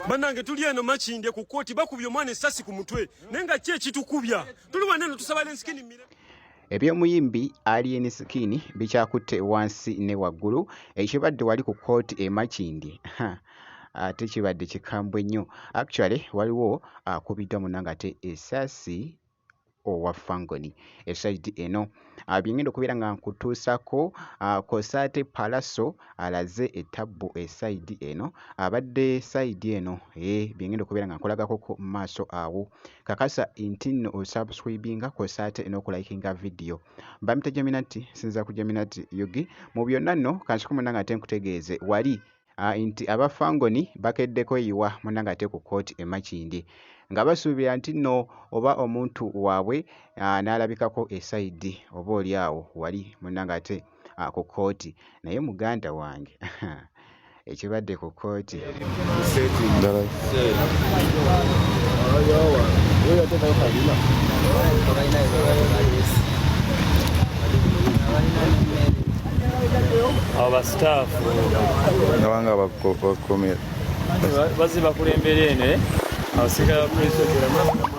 banange tuli eno makinde ku kooti bakubye omwana esasi ku mutwe naye nga ki ekitukubya tuli wana eno tusaba lensikini mire eby'omuyimbi alien skin bikyakutte wansi ne waggulu ekibadde wali ku kooti e makindi ate kibadde kikambwe nnyo actually waliwo akubiddwa munanga ate esasi owa Fangoni esayidi eno ah, byengenda okubeera nga nkutuusako ah, kosa ate palaso alaze etabbu esayidi eno abadde sayidi eno e byengenda okubeera nga nkolagakoko mu maaso awo kakasa nti nno osubscribinga kosa ate n'okulayikinga vidiyo bamita jaminati sinza ku jaminati yugi mu byonna nno kansikumunna nga ate nkutegeeze wali nti aba Fangoni bakedde kweyiwa munangate ku kkooti e Makindye nga basuubira nti nno oba omuntu waabwe n'alabikako e sayidi oba oli awo wali munangate ku kkooti naye muganda wange ekibadde ku kkooti abasitaafu abanga bakomera bazi bakulembera eno eh? abasirikale ba poliisi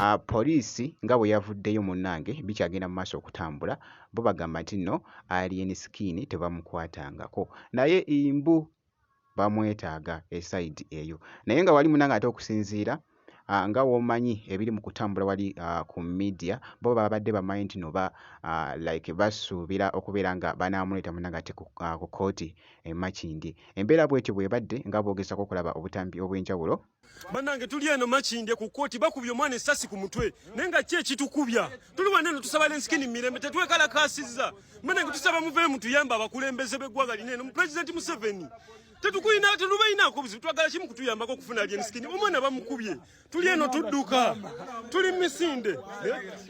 Ah, poliisi nga bwe yavuddeyo munnange bikyagenda mu maaso okutambula bo bagamba nti nno alien skin tebamukwatangako naye imbu bamwetaaga esayidi eyo naye nga wali munnange ate okusinziira ah, nga womanyi ebiri mu kutambula wali ah, ku media bo babadde bamanyi nti noba ah, like basuubira okubeera nga banaamuleeta muna ngate ku ah, ku kooti emakindi embeera bwetyo bwebadde nga boogezako okulaba obutambi obw'enjawulo banange tuli eno makindye ku kooti bakubye omwana esasi ku mutwe naye nga ki ekitukubya tuli wana eno tusaba lensikini mu mirembe tetwekalakasiza banange tusaba muveemu tuyamba abakulembeze b'eggwanga lino eno mu pulezidenti museveni tetukulina tetubalinako buzibu twagala kimu kutuyambako okufuna lyenskin omwana bamukubye tuli eno tudduka tuli misinde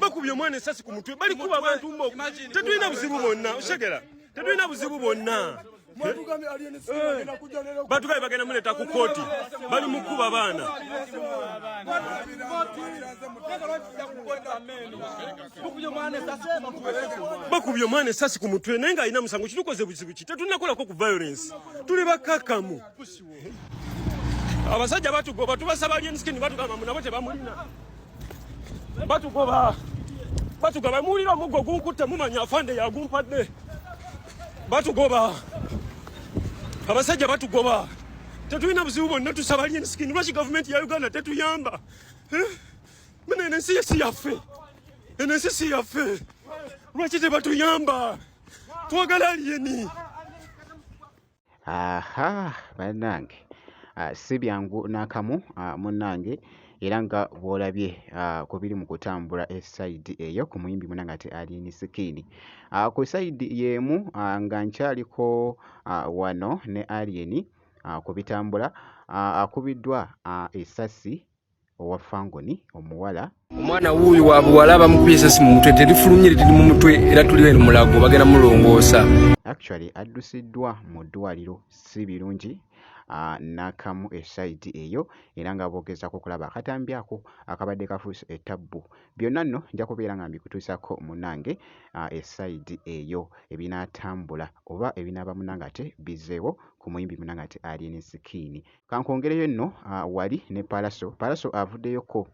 bakubye omwana esasi ku mutwe bali kuba abantu mok tetulina buzibu bonna oshegera tetulina buzibu bonna batugabe bagenda muleta ku koti bali mukuba baana bakubye omwana esasi ku mutwe naye ng'alina musango kitukoze buzibu ki tetunakolako ku violence tuli bakkakkamu abasajja batugoba tubasaba lyenskin batugamba munabo tebamulina batugoba batugaba muwulira omuggo gunkutte mumanya afande yagumpadde batugoba abasajja batugoba tetulina buzibu bonna tusaba lyenskin lwaki gavumenti ya uganda tetuyamba eh? Muna enensi yesi yaffe, enensi si yaffe, lwaki tebatuyamba? Twagala aliyeni. Aha, banange ah, si byangu n'akamu ah, munange era nga bw'olabye ah, ku biri mu kutambula esayidi eyo ku muyimbi munange ate Alien Skin. Ah, ku sayidi y'emu ah, nga nkyaliko ah, wano ne Alien ah, ku bitambula ah, akubiddwa ah, essasi owa fangoni omuwala omwana wuuyu wa buwala bamukubye esasi mu mutwe terifulumye liri mu mutwe era tuli eno mulago bagenda mulongoosa actually addusiddwa mu ddwaliro si birungi ah, nakamu esaidi eyo era nga bogezaako okulaba akatambi ako akabadde kafuuse etabbu byonna nno nja kubeera nga mbikutuusako munange ah, esaidi eyo ebinaatambula oba ebinaaba munange ate bizeewo ku muyimbi munange ate alien sikiini Kankwongereyo nno ah, wali ne Pallaso. Pallaso avuddeyokko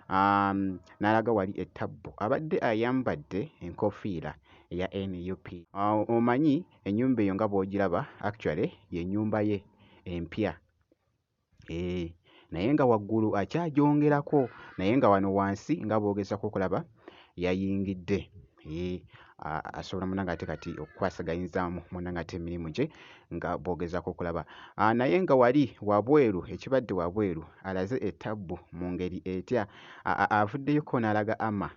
um, n'alaga wali ettabbu. Abadde ayambadde enkofiira eya nup. Ah, omanyi ennyumba eyo nga bw'ogiraba actually ye nnyumba ye empya. Eeh. naye nga waggulu akyagyongerako naye nga wano wansi nga bwogezako okulaba yayingidde eeh asobola munange ate kati okukwasaganyizza munange ate emirimu gye nga bw'ogezaako okulaba ah, naye nga wali wabweru ekibadde wabweru alaze ettabbu mu ngeri etya avuddeyoko n'alaga ama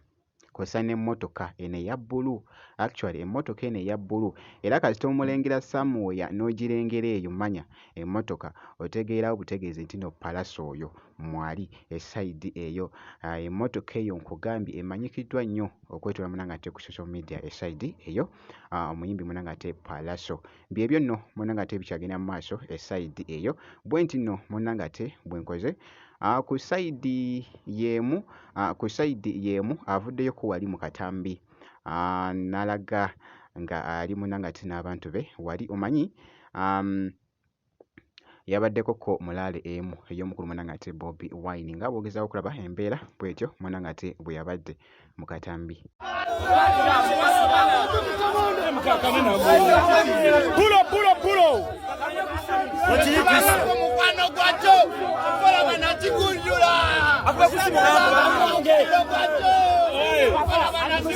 kw'ossa n'emmotoka eno eya bbulu actually emmotoka eno eya bbulu era kasita omulengera samuweya n'ogirengera eyo manya emmotoka otegeerawo butegeezi nti no palasa oyo mwali e side eyo uh, emotoka eyo nkugambye emanyikiddwa nnyo okwetula munanga ate ku social media e side eyo uh, omuyimbi munanga ate palaso byebyo nno munanga ate bikyagenda mu maaso e side eyo bwe nti nno munanga ate bwenkoze uh, ku side yemu uh, ku side yemu avuddeyo ku wali mu katambi uh, nalaga nga ali munanga ate n'abantu be wali omanyi um, yabaddeko ko mulaale emu ey'omukulu mwana ng'ate Bobi Wine nga bw'ogezaako okulaba embeera bw'etyo mwana ng'ate bwe yabadde mu katambi. Pulo pulo pulo. Mukwano gwakyo okola banakigunjula. Akuba kusimu. Okola banakigunjula.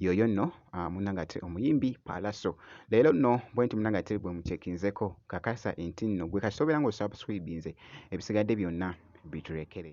yoyo nno ah, munangate omuyimbi palaso leero nno bwenti munangate bwe mukyekinzeko kakasa enti nno gwe kasita obeera nga osubscribinze ebisigadde byonna biturekere